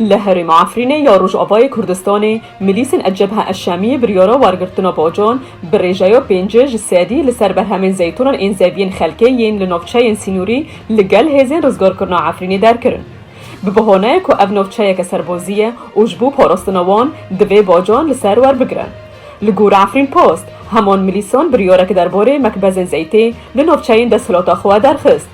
Li herêma Efrînê ya Rojavayê Kurdistanê milîsên El-Cebha El-Şamiyê biryara wergirtina bacan bi rêjeya pêncê ji sedî li ser berhemên zeytûnan ên zeviyên xelkê yên li navçeyên sînorî li gel hêzên rizgarkirina Efrînê derkirin bi behaneyê ku ev navçeyeke serbazî ye û ji bo parastina wan divê bacan li ser werbigire. Li gor Efrîn Post, heman milîsan biryarek derbarê mekbezên zeytê li navçeyên desthilata xwe derxist.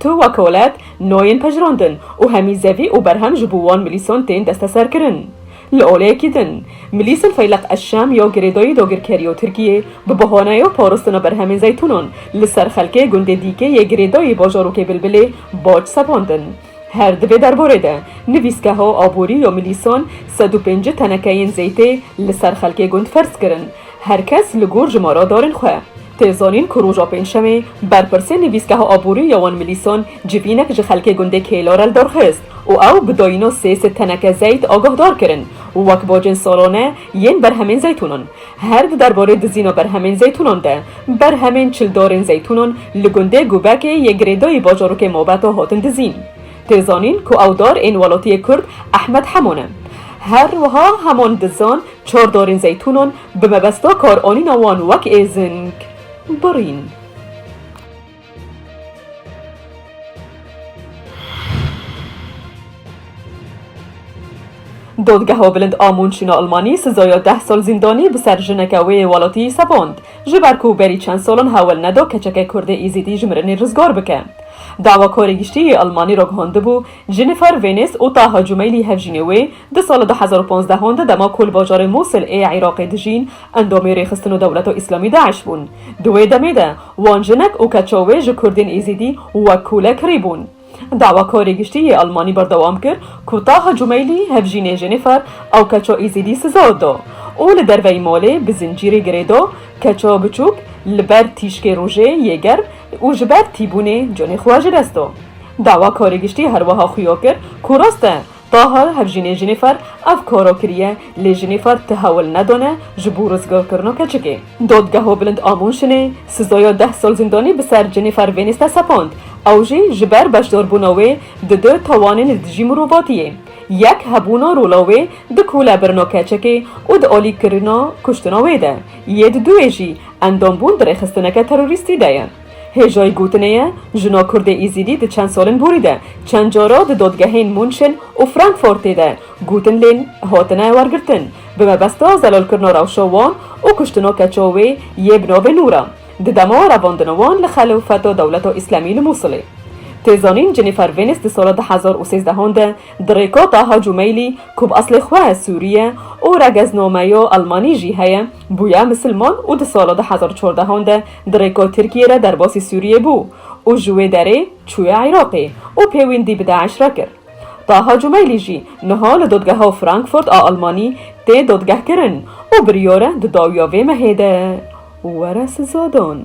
Tu wek welat nayên pejirandin û hemî zevî û berhem ji bo wan milîsan tên desteserkirin. Li oleyekî din, milîsên Feyleq Eşşam ya girêdayî dagirkerî ya Tirkiyê bi bahaneya parastina berhemên zeytûnan li ser xelkê gundê Dîkê yê girêdayî bajarokê Bilbilê bac sepandin. Her di vê derbarê de, nivîsgeha aborî ya milîsan sed û pêncî tenekeyên zeytê li ser xelkê gund ferz kirin. Her kes li gor jimara darên xwe. Tê zanîn ku roja pêncşemê berpirsê nivîsgeha aborî ya wan Milîsan civînek ji xelkê gundê Kêlarel derxist û ew bi dayîna sê sed teneke zeyt agahdar kirin wek bacên salane yên berhemên zeytûnan. Her di derbarê dizîna berhemên zeytûnan de, berhemên çildarên zeytûnan li gundê Gubekê yê girêdayî bajarokê Mabeta hatin dizîn. Tê zanîn ku ew dar ên welatiyê Kurd Ehmed Heman e. Her wiha Heman dizan Çor dorên zeytûnan bi mebesta karanîna wan wek êzing birîn. Dadgeha Bilind a Mûnşîn a Elmanî sizaya deh sal zîndanî bi ser jineke wê yê welatî sepand, ji ber ku berî çend salan hewl neda keçeke kurdê Îzîdî ji mirinê rizgar bike. Dawakarê Giştî yê Elmanî ragihandibû, Jennifer Venice û Taha Cumeylî hevjînê wê, di sala du hezar û panzdeh an de dema ku li bajarê Mosil ê Iraqê dijîn, endamê rêxistin û dewleta Îslamî DAIŞ bûn. Di wê demê de wan jinek û keça wê ji Kurdên Êzîdî wek kûle kirîbûn. Dawakarê giştî yê Elmanî berdewam kir ku Taha Cumeylî hevjînê Jennifer ew keça Êzîdî siza da û li derveyî malê bi zincîrê girê da, keça biçûk li ber tîşkê rojê yê germ û ji ber tîbûnê canê xwe ji dest da. Dawa karê giştî her wiha xuya kir ku rast e taha hevjînê Jînîfer ev kara kiriye lê Jînîfer ti hewl nedane ji bo rizgarkirina keçikê. Dadgeha Bilind a Mûnşinê sizaya deh sal zîndanî bi ser Jînîfer Vênîs de sepand, ew jî ji ber beşdarbûna wê di du tawanên li dijî mirovatiyê, yek hebûna rola wê di kolebirina keçikê û di alîkirina kuştina wê de, yê di duê jî Endombûn di rêxistineke terorîstî de ye. Hêjoyî gotinê ye, jino Kurdê Îzîdî di çend salên borî de çend cara di dodgehên Munşên û Frankfortê de gotin lên hatine wergirtin bi mebesta zelalkirina rewşa wan û kuştina keça wê yê bi navê Nûra di dema revandina wan li xelefeta dewleta Îslamî li Mûsilê. Tê zanîn Jennifer Venice di sala du hezar û sêzdehan de di rêka Taha Cumeylî ku bi eslê xwe Sûrî ye û regeznameya Elmanî jî heye, Bûye misilman û di sala du hezar û çardehan de di rêka Tirkiyê re derbasî Sûriyê bû û ji wê derê çûye Iraqê û pêwîndî bi DAIŞ re kir. Taha Cumeylî jî niha li Dadgeha Frankfurt a Almanî tê dadgehkirin û biryar e di dawiya vê mehê de were sizadan.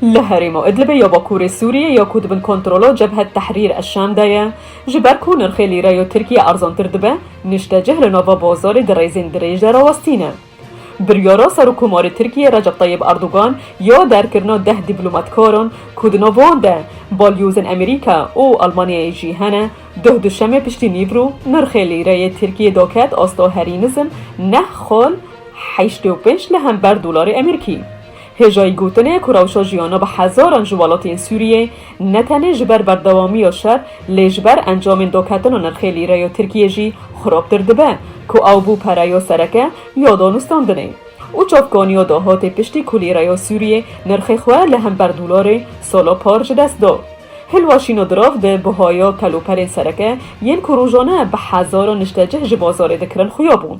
Li herêma Idlibê ya bakurê Sûriyê ya ku di bin kontrola Cebhet Tehrîr Eşşam de ye, ji ber ku nirxê lîreya Tirkiyê erzantir dibe, niştecih li nava bazarê di rêzên dirêj de rawestîne. Biryara Serokkomarê Tirkiyê Recep Tayyib Erdogan ya derkirina deh dîplomatkaran ku di nav wan de balyozên Amerîka û Almanyayê jî hene, Duh duşemê piştî Nîvrû nirxê lîreyê Tirkiyê doket asta herî nizm neh xal heştê û pênc li hember dolarê Emerîkî. Hêjayî gotin e ku rewşa jiyana bi hezaran ji welatên Sûriyê ne tenê ji ber berdewamiya şer lê ji ber encamên doketina nirxê lîreya Tirkiyê jî xirabtir dibe ku ew bû pereya sereke ya danûstandinê û çavkaniya dahatê piştî ku lîreya Sûriyê nirxê xwe li hember dolarê sala par ji dest da. Hilwa Şînodirov di buhaya keloperên sereke yên ku rojane bi hezaran niştecih ji bazarê dikirin xuya bû.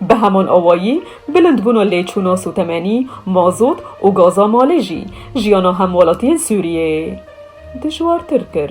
Bi heman awayî bilindbûna lêçûna sotemenî, mazot û gaza malê jî jiyana hemwelatiyên Sûriyeyê dijwartir kir.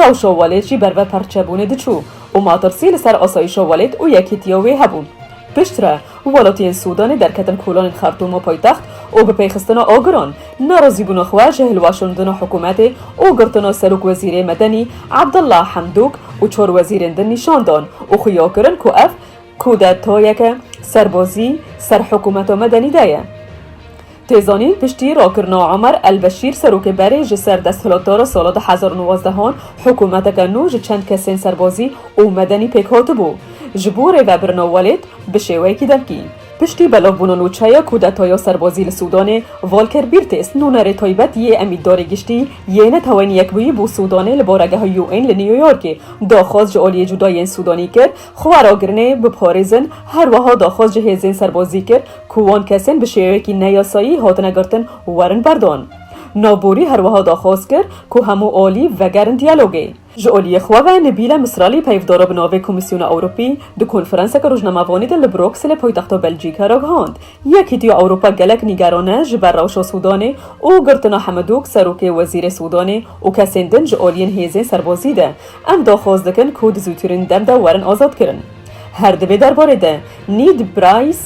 Rewşa welêt jî ber vê perçebûnê diçû û matirsî li ser asayîşa welêt û yekîtiya wê hebû. Piştre, welatiyên Sûdanê derketin kolanên Xertûm û paytext û bi pêxistina agiran, nerazîbûna xwe ji hilweşandina hikûmetê û girtina serokwezîrê Medenî Abdullah Hamdok û çar wezîrên din nîşan dan û xuya kirin ku ev kûdetayeke serbazî ser hikûmeta Medenî de ye. Tê zanîn piştî rakirina Omer El Beşîr serokê berê ji ser desthilatda re sala du hezar û nozdehan hikûmeteke nû ji çend kesên serbazî û medenî pêk hatibû ji bo rêvebirina welêt bi şêweyekî devkî. Piştî belavbûna nûçeya kûdetaya serbazî li Sûdanê, Volker Birtes nûnerê taybet yê Emîtdarê Giştî yê Neteweyên Yekbûyî bo Sûdanê li baregeha UN li Newyorkê daxwaz ji aliyê cûda yên Sûdanî kir Xwe ragirinê bipxorîzin, her weha daxwaz ji hêzên serbazî kir ku wan kesên bi şêweyekî neyasayî hatine girtin werin berdan. Navborî her weha daxwaz kir ku hemû alî vegerin diyalogê. Ji aliyê xwe ve Nibîle Misralî peyvdara bi navê Komîsyona Ewropî di konferanseke rojnamevanî de li Brokselê paytexta Belcîkê re gihand, Yekîtiya Ewropa gelek nîgeran e ji ber rewşa Sûdanê û girtina Hemedûk, serokê wezîrê Sûdanê û kesên din ji aliyên hêzên serbazî de Em daxwaz dikin ku di zûtirîn dem de werin azadkirin. Her di vê derbarê de Nîd Prays,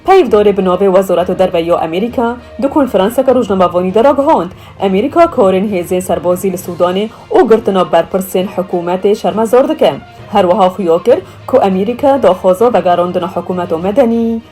peyvdarê bi navê Wezareta Derve ya Amerîka, di konferanseke rojnamevanî de ragihand, Amerîka karên hêzên serbazî li Sûdanê û girtina berpirsên hikûmetê şermezar dike. Herwiha xuya kir ku Amerîka daxwaza vegerandina hikûmeta medenî,